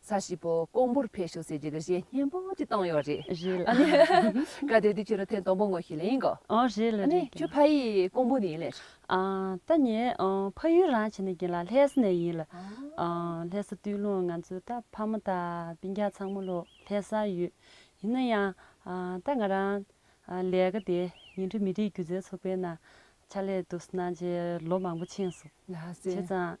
ས་བྱིས་པོ་ཀོང་པོར་ཕེབས་ཤོག་ཟེར་རྒྱུ་གི་གཞས་སྙན་པོ་ཅིག་བཏང་ཡོད་རེད། རེད་ལ། ཨ་ནི། ག་དེ་དུས་ཁྱོད་རང་ཐེངས་དང་པོ་ངོ་ཤེས་ལེ་ཡིན་གོ། ཨོ་རེད་ལ་ཨ་རེད་ནི་ཁྱོད་ཕ་ཡིས་ཀོང་པོ་ནས་ཡིན་ལེ། ཨ། ད་ངས་ཕ་ཡུལ་རང་བྱས་ནས་གྱེས་ལ་ལྷས་ས་ནས་ཡིན་ལ། ཨ། ལྷས་ས་དུས་ལོ་ང་ཚོ་ད་ཕ་མ་དང་པི་རྒྱ་ཚང་མ་ལོ་ལྷས་ས་ཡོད། ཡིན་ན་ཡང། ད་ང་རང། ལས་ཀ་དེ་ཉིང་ཁྲི་མི་རིགས་སྒྱུ་རྩལ་ཚོགས་པའི་ནང་ཕྱག་ལས་འདུག་སྣང་བྱེད་ལོ་མང་པོ་ཕྱིན་སོང། ལྷ་སྲས། བྱས་ཙང།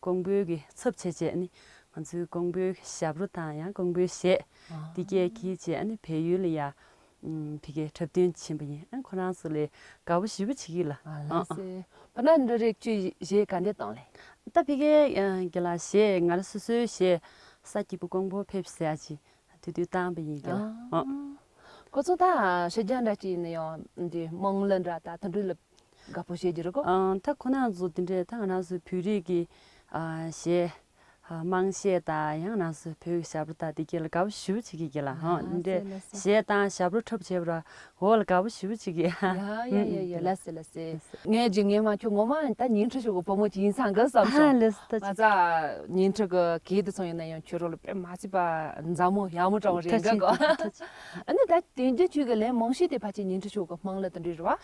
ཀོང་པོའི་གི་ཚབ་བྱེད་ཅེས་ནི་ང་ཚོའི་ཀོང་པོའི་ཞབས་རོ་དང་ཡང་ཀོང་པོའི་གཞས་འདི་སྐད་གི་ཅེས་ནི་བལ་ཡུལ་ལ་ཡང་ཕི་གའི་འཁྲབ་སྟོན་བྱིན་པ་ཡིན་ཁོ་རང་ཚོ་ལས་དགའ་བོ་ཞིབ་པོ་བྱེད་གི་ལ་ཨང། བ་ན་འདྲ་རེག་ཅུས་གཞས་ག་འདྲས་བཏང་ལེ། ད་ཕི་གའི་གི་ལ་གཞས་ང་ར་སོ་སོའི་གཞས་ས་སྐྱིད་པོ་ཀོང་པོ་ཕེབས་ཟེར་ཡ་ཅིག་དུས་དུས་བཏང་པ་ཡིན་གི་ལ་ཨང། ཁོ་ཚོ་ད་ཤོད་རྒྱ་འདྲ་ཅིག་ཡིན་ན་ཡང་འདི་དམངས་གླུ་འདྲ་ད་ད་འགྲུལ་ལ། དགའ་པོ་བྱེད་རྒྱུ་རེད་ཀོ། ད་ཁོ་ན་ཚོ་དེ་འདྲའི་ད་ང་ན་ཚོའི་བོད་རིགས་ཀྱི་གཞས། དམངས་གཞས་དང་ཡང་ན་ཚོའི་བོད་ཀྱི་ཞབས་བྲོ་དང་དེ་གྱི་ལ་དགའ་པོ་ཞུ་བྱེད་ཀྱི་གྱི་ལ་ཧོ་དེ་འདྲའི་གཞས་དང་ཞབས་བྲོ་ཁྲོབ་བྱེད་པ་ར་ཧོ་ལ་དགའ་པོ་ཞུ་བྱེད་ཀྱི། ཡ་ཡ་ཡ་ཡ་ལེ་སེ་ལེ་སེ། ངས་རྒྱུ་ངས་མ་ཁྱོད་ངོ་མ་ད་ཉིན་ཁྲི་ཞུ་གི་བུ་མོ་ཅིག་ཡིན་ས་འགི་བསམ་ཞོང། ང་ཚ་ཉིན་ཁྲི་གི་གི་དེ་ཚོང་ཡིན་ན་ཡང་ཁྱོད་རོ་ལ་དཔེ་མ་ཆི་པ་མཛའ་མོ་ཡག་མོ་ཀྲང་བ་རེད་འགི་གོ། ཨ་ནི་ད་དེ་འདྲའི་ཁྱོད་ཀྱི་ལན་མང་ཤོས་དེ་ཕ་ཅིག་ཉིན་ཁྲི་ཞུ་གི་དམངས་ལ་དེ་འདྲའི་ར་བ།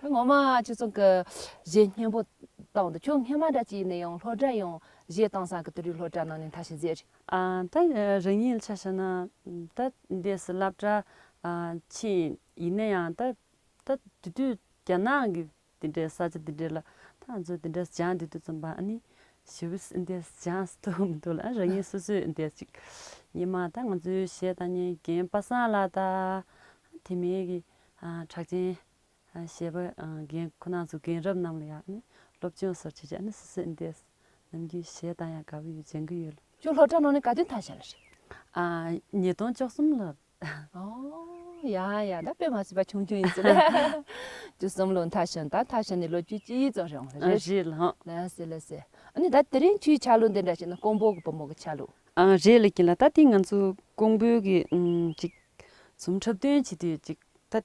ད་ངོ་མ་ཁྱེད་ཚང་གི་གཞས་སྙན་པོ་བཏང་འདུག་ཁྱོད་ངྷི་མ་དྲ་སྤྱི་ནས་ཡང་ལྷོ་དྲ་ཡང་གཞས་བཏང་ས་གི་དུ་རིག་ལྷོ་དྲ་ནང་ནས་མཐའ་ཤི་ཟེར། ད་རང་ཉིད་ལ་ཆ་བྱས་ན་ད་འདས་སུ་བསླབ་གྲྭ་ཕྱིན་ཡིན་ན་ཡང་ད་ད་དེ་དུས་རྒྱ་ནག་གི་དེ་འདྲའི་ས་ཆ་དེ་འདྲའི་ལ་ད་ང་ཚོ་དེ་འདྲ་སྦྱངས་དེ་དུས་ཙམ་པ་ཨ་ནི་ཞི་བས་འདས་སུ་སྦྱངས་སུ་འདུག་མི་འདུག་ལ་ཨ་རང་ཉིད་སོ་སོས་འདས་ཅིག་ཉི་མ་ད་ང་ཚོའི་གཞས་དང་ཉན་རྒན་པ་སངས་ལ་ད་དེ་མིན་གྱི་གྲགས་ཅན་ཞེས་པ་རྒན་ཁོ་ན་ཚོ་རྒན་རབས་རྣམས་ལ་ཡང་ནི་སློབ་སྦྱོང་སོགས་བྱེད་ཆོག་ནི་སུ་སུ་འདས་སུ་ནམ་རྒྱུན་བྱེད་དང་ཡང་དགའ་བོ་ཡོད་སྦྱང་གི་ཡོད་ལ། ཅུང་ལྷོད་དྲགས་ནོ་ནི་དགའ་སྟོན་ཐང་ཞེས་ལ་ཞེས། ཉིས་སྟོང་བཅོ་གསུམ་ལོར། ཨོའོ། ཡང་ཡང་ད་དཔེ་མ་ཟོས་པ་ཆུང་ཆུང་ཡིན་ཟེར་ལ། བཅུ་གསུམ་ལོར་མཐའ་ཞོན་དང་མཐའ་ཞོན་ནི་ལོ་བཅུ་གཅིག་ཡིན་ཙང་རེད་འོང་ལ། རེད་ལ། ན་ཟེར་ལ་ཟེར། ཨ་ནི་ད་དེ་རིང་ཁྱོའི་ཆ་ལུགས་འདི་འདྲ་ཞིག་ན་ཀོང་པོ་གི་བུ་མོ་གི་ཆ་ལུགས། རེད་ལ་གྱིན་ལ་ད་དེ་ང་ཚོ་ཀོང་པོའི་གི་ཅིག། ཚོམ་འཁྲབ་སྟོན་བྱེད་དུས་ཅིག་ད།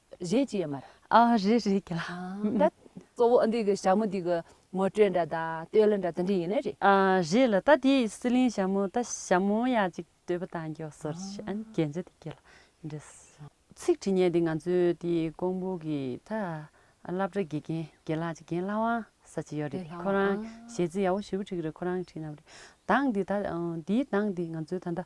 གཞན་གྱིས་མ་རེད། ཨ་རེད་རེད་གྱིས་ལ། གཙོ་བོ་ཨ་འདི་གི་ཞྭ་མོ་འདི་གི་ངོ་སྤྲོད་འདྲ་ད་ལྟོས་ལ་འདྲ་ད་འདྲི་ཡིན་ནི་རེད། ཨ་རེད་ལ་ད་དེ་སི་ལིང་ཞྭ་མོ་ད་ཞྭ་མོ་ཡ་ཅིག་ལྟོས་པ་ད་མགྱོགས་སོ་རེད་ཞེས་ཨ་ནི་རྒྱན་ཆ་དེ་གྱིས་ལ་འདྲི་སོ། ཚིག་བྲིས་ཉན་དེ་ང་ཚོའི་དེ་ཀོང་པོ་གི་ད་བླ་བྲེ་དགེ་རྒན་དགེ་ལགས་ཅིག་རྒན་ལྷ་དབང་ས་ཅིག་ཡོད་རེད་ཁོ་རང་གཞས་ཚིག་ཡག་པོ་ཞུ་གི་འགྲིག་གི་རེད་ཁོ་རང་གིས་བྲིས་གནང་བ་རེད་གདངས་དེ་ད་དེའི་གདངས་དེ་ང་ཚོའི་ད་ད་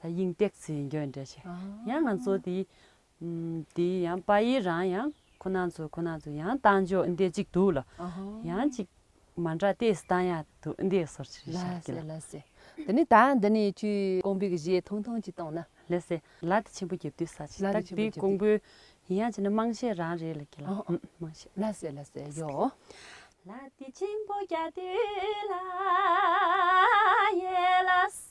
ད་དབྱིངས་སྟེགས་ཚེ་འགྱོད་འདྲེ་ཆེ། ཡང་ང་ཚོ་དེ། དེ་ཡང་པ་ཡི་རང་ཡང་ཁོ་ན་ཚོ་ཁོ་ན་ཚོ་ཡང་བཏང་འཇོག་འདི་གཅིག་འདུག་ལ། ཡང་གཅིག་མ་འདྲ་ལྟས་སུ་བཏང་ཡ་འདུག་འདི་སོར་ཆུད་བྱ་དགོས་ལ། ལ་སྲས། འདི་ནི་ད་འདི་ནི་ཆུ། ཀོང་པོའི་གཞས་ཐུང་ཐུང་གཅིག་བཏང་ན། ལ་སྲས། ལ་དེ་ཆེན་པོ་རྒྱབ་དུས་ས་ཆེ། ད་དེ་ཀོང་པོའི་ཡིན་ཡང་བྱས་ན་དམངས་གཞས་རང་རེད་ལ་ཁྱེད་ལ། དམངས་གཞས། ལ་སྲས་ལ་སྲས་ཡོའོ། ལ་དེ་ཆེན་པོ་རྒྱབ་དུས་ལ། ཡེ་ལ་སྲས།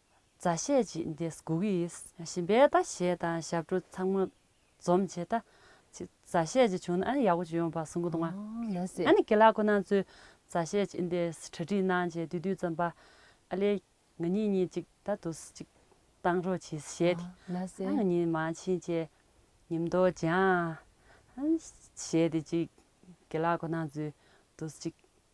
མཛའ་བཤེས་ཅི་འདི་སྒུག་གི་ཡིན། ཞིམ་པའི་ལྟ་བྱེད་དང་ཞབས་བྲོ་ཚང་མ་འཛོམས་བྱས་ལྟ། ཅི་མཛའ་བཤེས་ཅི་བྱུང་ན་ཨ་ནི་ཡག་པོ་ཅི་ཡོང་བ་གསུང་གི་འདུག་ང། ཨ་ནི་དགེ་ལགས་ཁོ་ན་ཚོས་མཛའ་བཤེས་ཅི་འདི་གྲ་སྒྲིག་གནང་བྱས་དུས་དུས་ཙམ་པ་ཨ་ལས་ང་གཉིས་གཉིས་གཅིག་ལྟ་དུ་གཅིག་བཏང་རོགས་གྱིས་བཤད་དེ་ཨ་ང་གཉིས་མ་ཕྱིན་བཅས་ཉིན་མདོ་སྦྱངས། ཞེས་དེ་གཅིག་དགེ་ལགས་ཁོ་ན་ཚོས་དུ་གཅིག་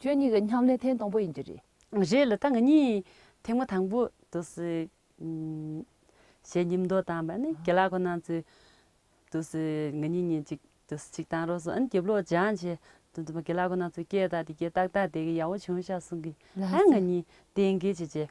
ཁྱོད་གཉིས་ཀྱི་མཉམ་ལས་ཐེངས་དང་པོ་ཡིན་རྒྱུ་རེད། རེད་ལ་ད་ང་གཉིས་ཐེངས་མ་དང་པོ་དུ་སུའི། ཞེས་ཉིན་མདོ་བཏང་བ་ནི་དགེ་ལགས་ཁོ་ན་ཚོས་དུ་སུའི་ང་གཉིས་གཉིས་གཅིག་དུ་སུ་གཅིག་བཏང་རོགས་སོང་ཨ་ནི་རྒྱབ་ལོག་སྦྱང་བྱས་དུ་འདུག་པ་དགེ་ལགས་ཁོ་ན་ཚོས་སྐད་བཏགས་དེ་སྐད་ཏག་ཏག་དེ་གི་ཡག་བོ་བྱུང་ཤག་གསུང་གི་ཨ་ང་གཉིས་གཏན་འཁེལ་བྱས་རྗེས་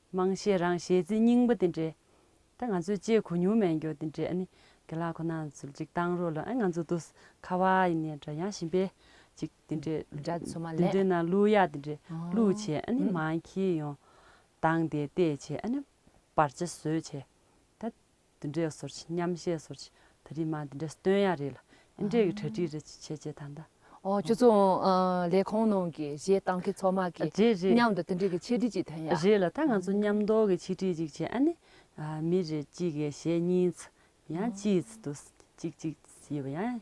དམངས་གཞས་རང་གཞས་རྩིས་རྙིང་པ་དེ་འདྲའི་ད་ང་ཚོས་སྤྱད་གོ་མྱོང་མེད་འགྱོ་དེ་འདྲའི་ཨ་ནི་དགེ་ལགས་ཁོ་ན་ཚོལ་ཅིག་བཏང་རོགས་ལ་ཨ་ང་ཚོ་དུས་ཁ་བ་ཡི་ནས་འདྲ་ཡང་ཞིན་པའི་ཅིག་དེ་འདྲའི་འདྲ་མཚོ་མ་དེ་ལས་འདྲའི་ན་གླུ་གཡག་དེ་འདྲའི་གླུ་བྱས་ཨ་ནི་མང་ཁྱི་ཡོང་བཏང་དེ་བལྟས་བྱས་ཨ་ནི་བར་ཆ་བཟོས་བྱས་ད་འདི་འདྲའི་སོར་ཆེ་མཉམ་བཤད་སོར་ཆེ་ད་རིས་མ་འདི་འདྲའི་སྟོན་ཡག་རེད་ལ་ཨེ་འདྲའི་གི་གྲ་སྒྲིག་རེ་བྱེད་བྱེད་བྱེད་ད་ད་ཨོ་ཁྱོད་ཚོ་ལས་ཁང་ནང་གི་གཞས་གཏང་མཁན་ཚོགས་མ་གི་རེད་རེད་མཉམ་དུ་དེ་འདྲའི་གི་ཆེ་སྒྲིག་ཅིག་དོན་ཡག་རེད་ལ་ད་ང་ཚོ་མཉམ་མདོག་གི་ཆེ་སྒྲིག་ཅིག་བྱེད་ཨ་ནི། མི་རེ་གཅིག་གི་གཞས་གཉིས་ཚ་ཡང་གཅིག་ཚ་དུ་གཅིག་གཅིག་ཡོད་པ་ཡང་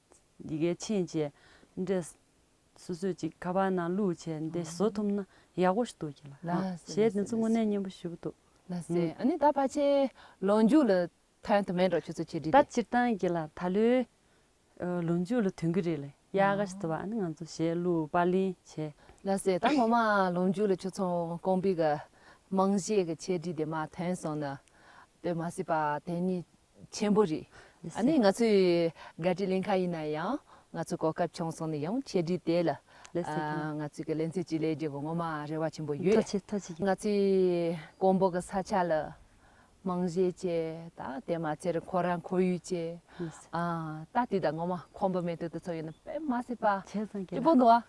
འདི་གའི་ཕྱིན་ཅི་འབྲས། སོ་སོས་ཅིག་ཁ་པར་ནང་བླུགས་བྱས་འདི་བཟོ་ཐུབ་ན་ཡག་པོ་ཞིག་འདུག་གྱི་ལགས་ཞེས་དེ་ཚོ་དངོས་གནས་སྙན་པོ་ཞུ་གི་འདུག་ལགས་སེ་ཨ་ནི་ད་ཕ་ཆེ་ལོ་མཇུག་ལ་ཐོན་དུ་མེད་འགྲོ་ཁྱོད་ཚོ་ཆེ་འདྲི་ད་སྟེ། སྤྱིར་བཏང་གི་ལ་ད་ལོའི་ལོ་མཇུག་ལ་ཐོན་གི་རེད་ལེ་ཡ་ག་ཞིག་བཟོ་བ་ཨ་ནི་ང་ཚོ་ཞེས་གླུ་དཔར་ལེན་བྱས། ལགས་སེ་ད་ངོ་མ་ལོ་མཇུག་ལ་ཁྱོད་ཚོ་ཀོང་པི་ག་རྨང་གཞིའི་གི་ཆེ་འདྲི་དེ་མ་ཐོན་སོང་ན་དཔེ་མ་སྲིད་པ་དེ་ནི་ཆེན་པོ་རེད། ཨ་ནི་ང་ཚོས་བཀའ་ཁྲི་གླེང་ཁ་ཡིན་ན་ཡང་ང་ཚོ་གོ་སྐབས་བྱུང་སོང་ནས་ཡང་ཆེད་བསྒྲིགས་དེ་ལ་ང་ཚོས་ཀྱི་ལན་ཚིགས་གཅིག་ལས་རྒྱུ་གོ་ངོ་མ་རེ་བ་ཆེན་པོ་ཡོད། ང་ཚོས་ཀོང་པོ་གི་ས་ཆ་ལ་རྨང་གཞི་བྱས་ད་དེ་མ་ཚད་རེ་ཁོ་ར་ཁོར་ཡུག་བྱས། ད་དེ་ད་ངོ་མ་ཁོང་པོ་མེ་ཏོག་དེ་ཚོ་ཡོད་ན་དཔེ་མ་སྲིད་པ་ཅི་པོ་འདུག་ཨ།